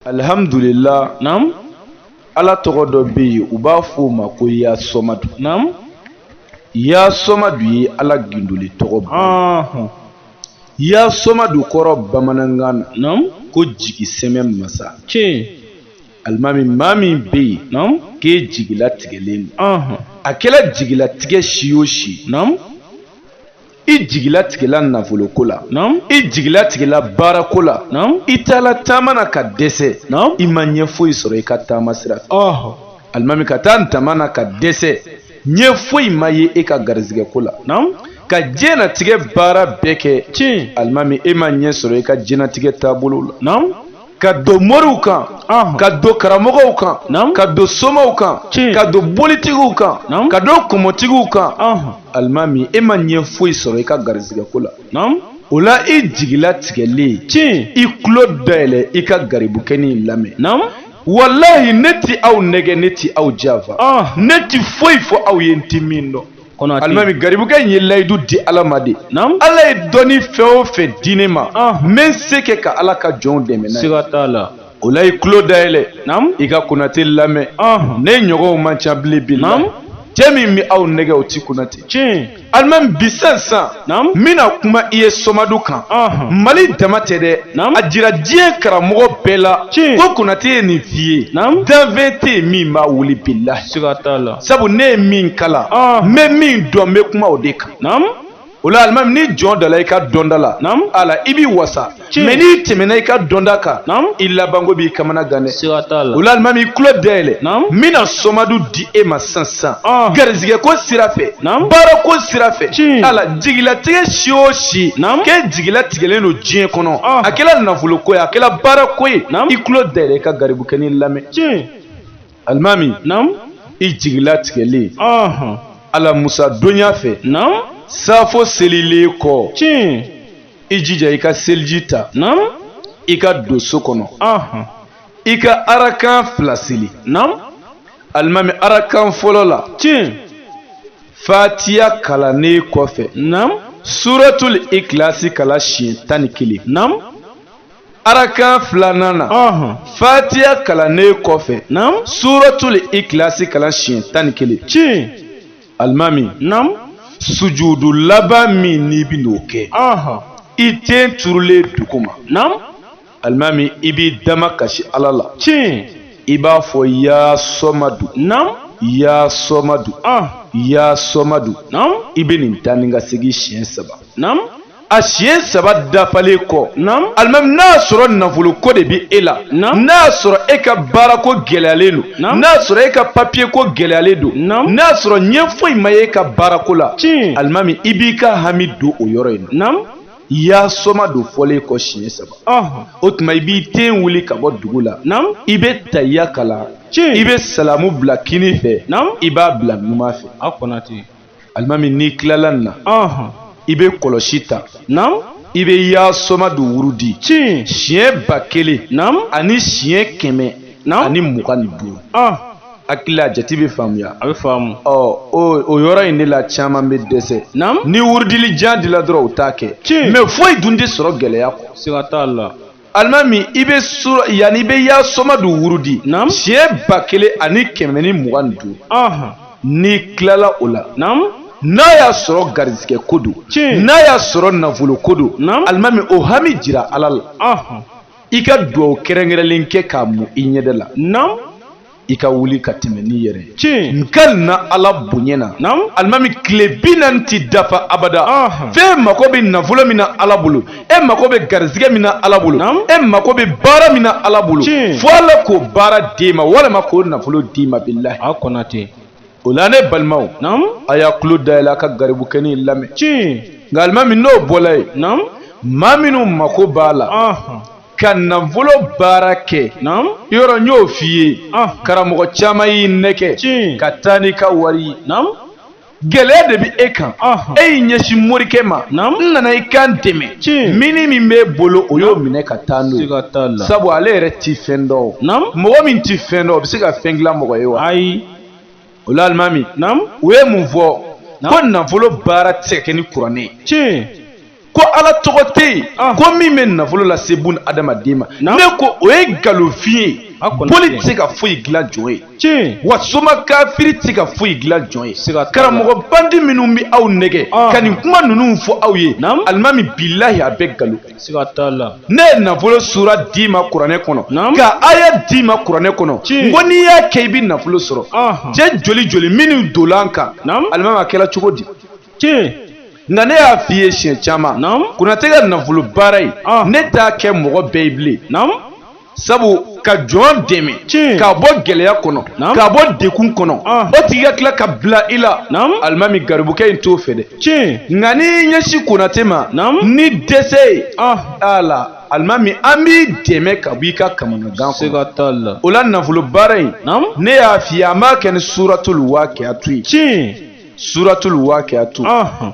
alihamdulila naamu ala tɔgɔ dɔ bɛ yen u b'a fɔ o ma ko yasɔmadu naamu yasɔmadu ye ala gindoli tɔgɔ bɔ yasɔmadu kɔrɔ bamanankan na naamu ko jigi sɛmɛ masa tiɲɛ alimami maa min bɛ yen naamu k'e jigilatigɛlen don a kɛla jigilatigɛ si o si naamu i jigilatigɛla nafoloko la i jigilatigɛla baarako la i taala taama na ka dɛsɛ i ma ɲɛ foyi sɔrɔ i ka taama sira fɛ alimami ka taa taama na ka dɛsɛ ɲɛ foyi ma ye e ka garizigɛko la ka diɲɛnatigɛ baara bɛɛ kɛ tiɲɛ alimami e ma ɲɛ sɔrɔ i ka diɲɛnatigɛ taabolo la ka don moriw kan ka don karamɔgɔw kan ka don somaw kan ka don bolitigiw kan ka don kɔmɔtigiw kan alimami e ma ɲɛ foyi sɔrɔ i ka garizigɛko la o la i jigilatigɛlen tiɲɛ i tulo dayɛlɛ i ka garibukɛnin lamɛn walahi ne ti aw nɛgɛ ne ti aw janfa ne ti foyi fɔ aw ye n ti min dɔn alimami garibukɛ in ye layidu di ala ma de ala ye dɔnni fɛn o fɛn di ne ma ah. n bɛ n se kɛ ka ala ka jɔnw dɛmɛ n'a ye siga t'a la o la i tulo dayɛlɛ i ka konate lamɛn ah. ne ɲɔgɔnw man ca bilen bi la cɛ min bɛ aw nɛgɛ o ti konate tiɲɛ alimami bi sisan sisan n bɛna kuma i ye sɔmadu kan mali dama tɛ dɛ a jira diɲɛ karamɔgɔ bɛɛ la ko konate ye nin f'i ye danfɛn tɛ yen min b'a wuli bi la sabu ne ye min kalan n bɛ min dɔn n bɛ kuma o de kan o la alimami ni jɔn dala i ka dɔnda la ala i b'i wasa mɛ n'i tɛmɛna i ka dɔnda kan i labanko b'i kamana gan dɛ o la alimami i tulo dayɛlɛ n bɛna sɔmadu di e ma sisan sisan ah. garizigɛ ko sira fɛ baara ko sira fɛ ala jigilatigɛ si o si k'e jigilatigɛlen don diɲɛ kɔnɔ ah. a kɛla nafolo ko ye a kɛla baara ko ye i tulo dayɛlɛ i ka garibukɛni lamɛn alimami i jigilatigɛlen alamusa donya fɛ saafo selilen kɔ i jija i ka seliji ta i ka don so kɔnɔ i ka arakan fila seli alimami arakan fɔlɔ la tiɲɛ fatiya kalannen kɔfɛ suratul ikilasi kalan siɲɛ tan ni kelen arakan filanan na fatiya kalannen kɔfɛ suratul ikilasi kalan siɲɛ tan ni kelen tiɲɛ alimami. naamu. sujudu laban min n'i bi n'o kɛ. i ten turulen duguma. naamu. alimami i b'i damakasi ala la. tiɲɛ. i b'a fɔ yaa sɔmadu. naamu. yaa sɔmadu. yaa sɔmadu. naamu. i bɛ nin taa ni ka segin siɲɛ saba. naamu. a siɲɛ saba dafalen kɔ alimami n'a sɔrɔ nafolo ko de bɛ e la n'a sɔrɔ e ka baara ko gɛlɛyalen don n'a sɔrɔ e ka papiye ko gɛlɛyalen don n'a sɔrɔ ɲɛ foyi ma ye e ka baara ko la alimami i b'i ka hami don o yɔrɔ in na yaasamadu fɔlen kɔ siɲɛ saba o tuma i b'i ten wuli ka bɔ dugu la i bɛ tahiya kalan i bɛ salamu bila kini fɛ i b'a bila numan fɛ. alimami n'i tilala nin na i bɛ kɔlɔsi ta i bɛ yaasamadu wurudi siɲɛ ba kelen ani siɲɛ kɛmɛ ani mugan ni duuru hakili la jate bɛ faamuya a bɛ faamu o yɔrɔ in de la caman bɛ dɛsɛ ni wurudili jan dila dɔrɔn u t'a kɛ mɛ foyi dun tɛ sɔrɔ gɛlɛya kɔ siga t'a la alimami i bɛ yanni i bɛ yaasamadu wurudi siɲɛ ba kelen ani kɛmɛ ni mugan ni duuru n'i tilala o la n'a y'a sɔrɔ garizigɛ ko don n'a y'a sɔrɔ nafolo ko don alimami o hami jira ala la i ka dugawu kɛrɛnkɛrɛnlen kɛ k'a mu i ɲɛda la i ka wuli ka tɛmɛ n'i yɛrɛ ye tiɲɛ n kalina ala bonya na naamu alimami tile bi naani ti dafa abada f'e mako bɛ nafolo min na ala bolo e mako bɛ garizigɛ min na ala bolo e mako bɛ baara min na ala bolo fo ala k'o baara d'e ma walima k'o nafolo d'i ma bilahi a konatɛ o la ne balimaw naamu a y'a tulo dayɛlɛ a ka garibukɛ nin lamɛn tiɲɛ nka alimami n'o bɔla yen naamu maa minnu mako b'a la ka nafolo baara kɛ yɔrɔ n y'o f'i ye ah. karamɔgɔ caman y'i nɛgɛ ka taa n'i ka wari ye gɛlɛya de bɛ e kan e y'i ɲɛsin morikɛ ma n nana i ka n dɛmɛ mini min b'e bolo o y'o minɛ ka taa n'o ye sabu ale yɛrɛ tɛ fɛn dɔn mɔgɔ min tɛ fɛn dɔn o bɛ se ka fɛn dilan mɔgɔ ye wa ayi o la alimami u ye mun fɔ ko nafolo baara tɛ se ka kɛ ni kuranɛ ye tiɲɛ ko ala tɔgɔ tɛ yen ah. ko min bɛ nafolo lase bun adamaden ma ne ko o ye nkalonfin ye boli tɛ se ka foyi dilan jɔn ye tiɲɛ wa soma kafiri tɛ se ka foyi dilan jɔn ye karamɔgɔ bandi minnu bɛ aw nɛgɛ ah. ka nin kuma ninnu fɔ aw ye alimami bilahi a bɛɛ nkalon ne ye nafolo sura d'i ma kuranɛ kɔnɔ ka aya d'i ma kuranɛ kɔnɔ n ko n'i y'a kɛ i bɛ nafolo sɔrɔ cɛ joli joli minnu donna n kan alimami a kɛra cogo di nka ne y'a f'i ye siɲɛ caman konatɛ ka nafolo baara in ne t'a kɛ mɔgɔ bɛɛ ye bilen sabu ka jɔn dɛmɛ k'a bɔ gɛlɛya kɔnɔ k'a bɔ degun kɔnɔ ah. o tigi ka tila ka bila i la alimami garibukɛ in t'o fɛ dɛ nka n'i ɲɛsin konatɛ ma ni dɛsɛ ye ah. ala alimami an b'i dɛmɛ ka bɔ i ka kamanagan kɔnɔ o la nafolo baara in ne y'a f'i ye an b'a kɛ ni suratul waqiatu ye suratul wakiatu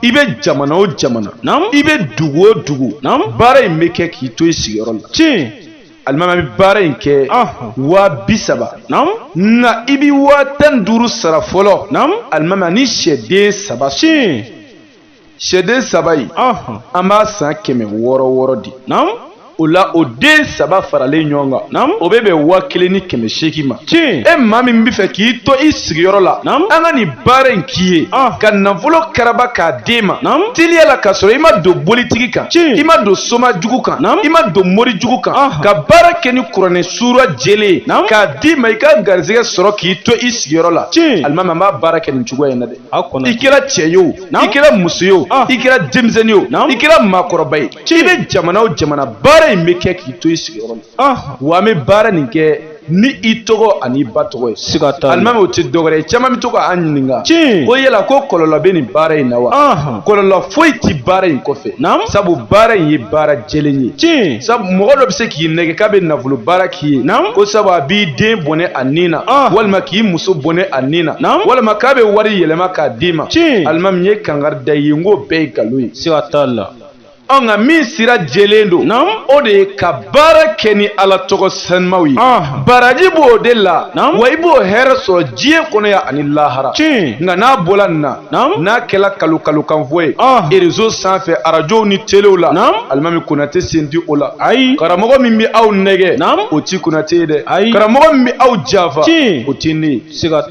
i bɛ jamana o jamana i bɛ dugu o dugu baara in bɛ kɛ k'i to i sigiyɔrɔ la tiɲɛ alimami bɛ baara in kɛ waa bi saba nka i bɛ waa tan duuru sara fɔlɔ alimami ni sɛden saba tiɲɛ sɛden saba in an b'a san kɛmɛ wɔɔrɔ wɔɔrɔ di o la o den saba faralen ɲɔgɔn kan o bɛ bɛn waa kelen ni kɛmɛ seegin ma tiɲɛ e maa min bɛ fɛ k'i to i sigiyɔrɔ la an ka nin baara in k'i ye ah. ka nafolo karaba k'a d'e ma teliya la k'a sɔrɔ i ma don bolitigi kan i ma don soma jugu kan i ma don mori jugu kan ah. ka baara kɛ ni kuranɛ suura jɛlen k'a d'i ma i ka garisɛgɛ sɔrɔ k'i to i sigiyɔrɔ la tiɲɛ alimami an b'a baara kɛ nin cogoya in na dɛ i kɛra cɛ ye o i kɛra muso ye o ah. i kɛra denmisɛnnin ye o i kɛra maakɔrɔba ye i bɛ jamana o jamana baara in bɛ kɛ k'i to i sigiyɔrɔ la ah. wa an bɛ baara nin kɛ ni i tɔgɔ ani i ba tɔgɔ ye siga t'a la alimami o tɛ dɔwɛrɛ ye caman bɛ to ka an ɲininka tiɲɛ ko yala ko kɔlɔlɔ bɛ nin baara in na wa kɔlɔlɔ foyi tɛ baara in kɔfɛ naamu sabu baara in ye baara jɛlen ye tiɲɛ sabu mɔgɔ dɔ bɛ se k'i nɛgɛ k'a bɛ nafolo baara k'i ye naamu ko sabu a b'i den bɔnɛ a ni na walima k'i muso bɔnɛ a ni na naamu walima k'a bɛ wari yɛlɛma k'a d'i ma tiɲɛ alimami n ye kangari da i ye n k'o bɛɛ ye nkalon ye siga t'a la ɔ nka min sira jɛlen don Naam. o de ye ka baara kɛ ni ala tɔgɔ sanumaw ye Aha. baraji b'o de la Naam. wa i b'o hɛrɛ sɔrɔ diɲɛ kɔnɔ yan ani lahara tiɲɛ nka n'a bɔla nin na Naam. n'a kɛla kalo kalo kanfɔ ye Aha. erezo sanfɛ arajow ni telew la Naam. alimami konate sen ti o la ayi karamɔgɔ min bɛ aw nɛgɛ Naam. o ti konate ye dɛ Ayi. karamɔgɔ min bɛ aw janfa Tiɲɛ. o ti ne ye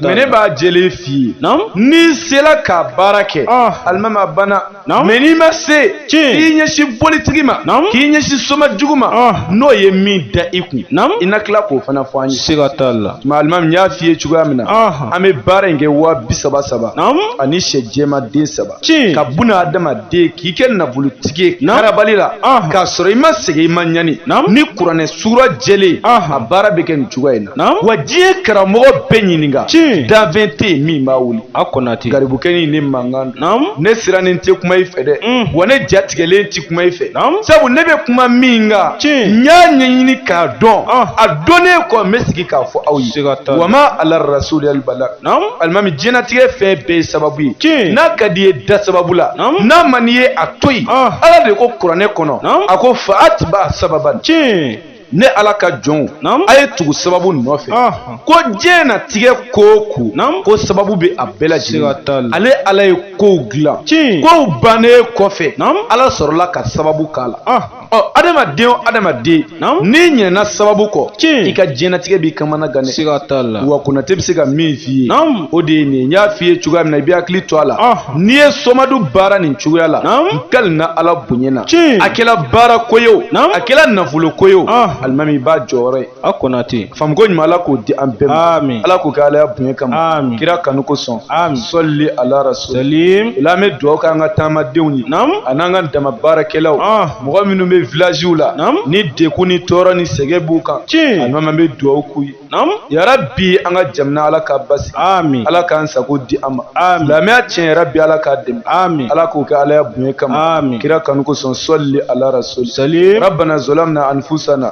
mɛ ne b'a jɛlen f'i ye n'i sera ka baara kɛ ah. alimami a banna mɛ n'i ma se k'i ɲɛsin bolitigi ma k'i ɲɛsin soma jugu ma ah. n'o ye min da i kun i na tila k'o fana fɔ an ye siga t'a la alimami n y'a f'i ye cogoya min na ah. an bɛ baara in kɛ waa bi saba saba ani sɛ jɛma den saba tiɲɛ ka buna adamaden k'i kɛ nafolotigi ye karabali la k'a sɔrɔ i ma sɛgɛn i ma ɲani ni kuranɛ suura jɛlen a baara bɛ kɛ nin cogoya in na wa diɲɛ karamɔgɔ bɛɛ ɲininka danfɛn tɛ yen min b'a wuli a konate garibukɛnin ne mankan ne sirannen tɛ kuma i fɛ dɛ mm. wa ne jatigɛlen tɛ kuma i fɛ sabu ne bɛ kuma min kan n y'a ɲɛɲini k'a dɔn a dɔnnen kɔ n bɛ sigi k'a fɔ aw ye wa ma ala rasuliya bala alimami diɲɛlatigɛ fɛn bɛɛ ye sababu ye tiɲɛ n'a ka d'i ye da sababu la n'a man d'i ye a to yen ah. ala de ko kuranɛ kɔnɔ a ko fa atiba sababan tiɲɛ ne ala ka jɔnw a ye tugu sababu nɔfɛ ah. ko diɲɛnatigɛ ko o ko ko sababu bɛ a bɛɛ lajɛlen ale ala ye kow dilan tiɲɛ kow bannen kɔfɛ ala sɔrɔla ka sababu k'a la ah. ɔ adamaden o adamaden n'i ɲinɛna sababu kɔ i ka diɲɛnatigɛ b'i kamana gan dɛ wa konate bɛ se ka min f'i ye o de ye nin n y'a f'i ye cogoya min na i bɛ hakili to a la n'i ye somadu baara nin cogoya la n kalina ala bonya na a kɛla baara ko ye o a kɛla nafolo ko ye o alimami i b'a jɔyɔrɔ ye a konate faamuko ɲuman ala k'o di an bɛɛ ma amin ala k'o kɛ alaya bonya kama amin kira kanu kosɔn amin sɔli ala rasul salim o la an bɛ dugawu kɛ an ka taamadenw ye nam a n'an ka daman baarakɛlaw ah. mɔgɔ minnu bɛ vilaziw la nam ni degun ni tɔɔrɔ ni sɛgɛn b'u kan tiɲɛ alimami an bɛ dugawu k'u ye nam yarabi an ka jamana ala k'a basigi amin ala k'an sago di an ma amin silamɛya diinɛ yarabi ala k'a dɛmɛ amin ala k'o kɛ alaya bonya kama amin kira kanu kosɔn sɔli ala rasul salim rabbana zalamna anfusana